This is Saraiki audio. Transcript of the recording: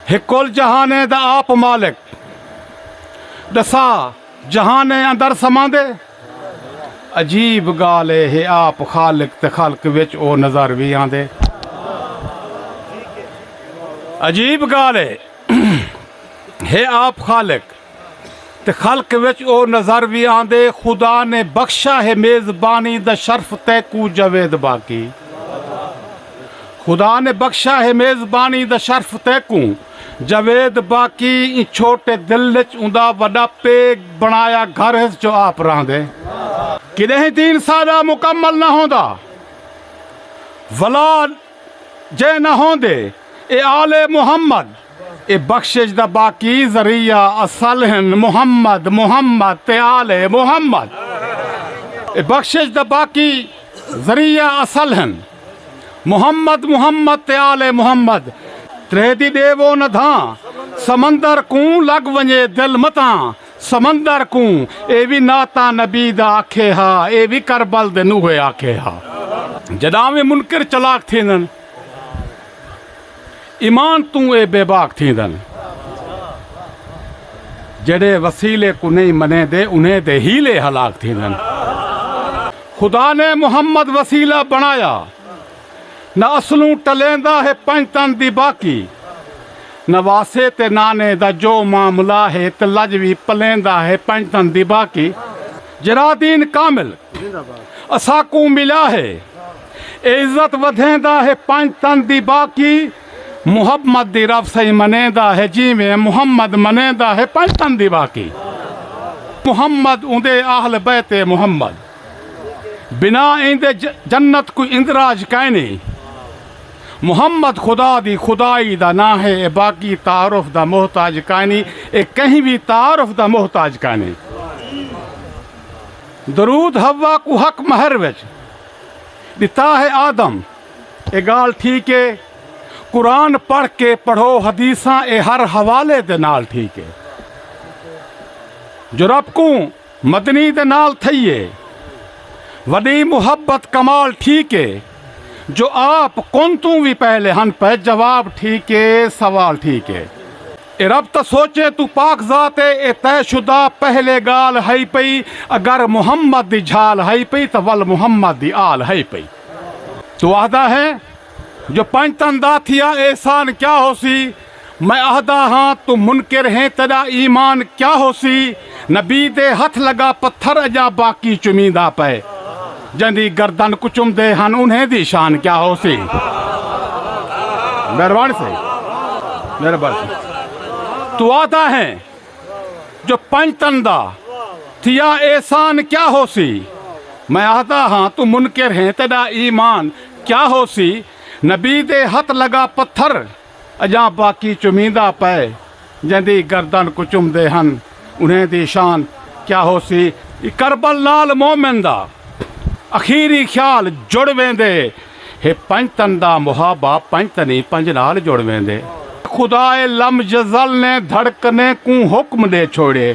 ہے کل جہانیں دا آپ مالک ڈسا جہانیں اندر سماندے عجیب گال اے ہے آپ خالق تے خلق وچ او نظر وی آندے عجیب گال اے ہے آپ خالق تے خلق وچ او نظر وی آندے خدا نے بخشا ہے میزبانی دا شرف تیکوں جاوید باقی خدا نے بخشا ہے میزبانی دا شرف تیکوں جاوید باقی ایں چھوٹے دل وچ اوندا وڈا پیگ بنایا گھر ہس جو آپ راہندے کڈہیں تین سادہ مکمل نہ ہوندا ولا جے نہ ہوندے اے آل محمد اے بخشش دا باقی ذریعہ اصل ہن محمد محمد تے آل محمد اے بخشش دا باقی ذریعہ اصل ہن محمد محمد تے آل محمد تریہدی ڈیوو نہ دھاں سمندر کوں لگ ونجے دل متاں سمندر کوں اے وی نعتاں نبی دا آکھے ہا اے وی کربل دے نوحے آکھے ہا۔ جڈاں وی منکر چلاک تھیندن ایمان توں اے بے باک تھیندن جیڑھے وسیلے کوں نئیں منیندے انہیں دے حیلے ہلاک تھیندن خدا نے محمد وسیلہ بنڑایا۔ نہ اصلوں ٹلیندا ہے پنج تن دی باقی نہ واسے تے نانے دا جو معاملہ ہے تے لج وی پلیندا ہے پنج تن دی باقی جیرھا دین کامل اساکوں ملا ہے اے عزت ودھیندا ہے پنج تن دی باقی محمد دی رب سئیں منیندا ہے جیویں محمد منیندا ہے پنج تن دی باقی محمد اوندے اہل بیت محمد۔ بنا ایندے جنت کوئی اندراج کائنے۔ محمد خدا دی خدائی دا ناں ہے اے باقی تعارف دا محتاج کائنی اے کہیں وی تعارف دا محتاج کائنے۔ درود حوا کوں حق مہر وچ ڈتا ہے آدم اے گالھ ٹھیک اے قرآن پڑھ کے پڑھو حدیثاں اے ہر حوالے دے نال ٹھیک اے جو رب کوں مدنی دے نال تھئی اے وݙی محبت کمال ٹھیک اے جو آپ کون توں وی پہلے ہن پئے جواب ٹھیک اے سوال ٹھیک اے اے رب تاں سوچیں توں پاک ذات اے اے طے شدہ پہلے ڳالھ ہئی پئی اگر محمد دی جھال ہئی پئی تاں ول محمد دی آل ہئی پئی توں آہدا ہیں جو پنج تن دا تھیا احسان کیا ہوسی میں آہدا ہاں توں منکر ہیں تیڈا ایمان کیا ہوسی نبی دے ہتھ لگا پتھر اجاں باقی چمیندا پئے جیندی گردن کچمدے ہن انہیں دی شان کیا ہوسی مہربان سے مہربان سے تو آدھا ہے جو پنج تندہ تھیا احسان کیا ہو سی میں آدھا ہاں تو منکر ہیں تیڈا ایمان کیا ہو سی نبی دے ہت لگا پتھر اجاں باقی چمیندہ پئے جیندی گردن کوں چمدے ہن انہیں دی شان کیا ہوسی۔ کربل نال مومن دا اخیری خیال جڑ ویندے ہے پنج تن دا محابہ پنج تنی پنج نال جڑ ویندے۔ خدائے لم یزل نے دھڑکنے کوں حکم ڈے چھوڑیے۔